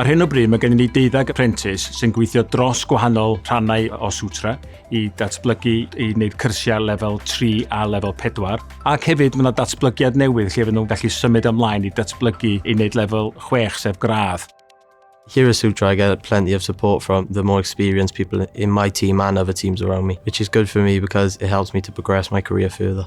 Ar hyn o bryd mae gennym ni deuddeg aprentis sy'n gweithio dros gwahanol rhannau o Sutra i datblygu i wneud cyrsiau lefel 3 a lefel 4 ac hefyd mae yna datblygiad newydd lle fydden nhw'n gallu symud ymlaen i datblygu i wneud lefel 6 sef gradd. Here at Sutra I get plenty of support from the more experienced people in my team and other teams around me, which is good for me because it helps me to progress my career further.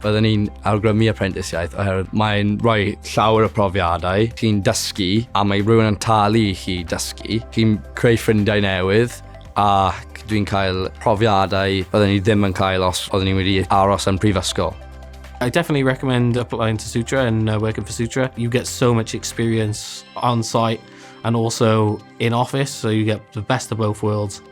Byddwn ni'n awgrymu aprentisiaeth oherwydd mae'n rhoi llawer o profiadau, chi'n dysgu a mae rhywun yn talu i chi dysgu, chi'n creu ffrindiau newydd ac dwi'n cael profiadau byddwn ni ddim yn cael os oeddwn ni wedi aros yn prifysgol. I definitely recommend applying to Sutra and uh, working for Sutra. You get so much experience on site and also in office, so you get the best of both worlds.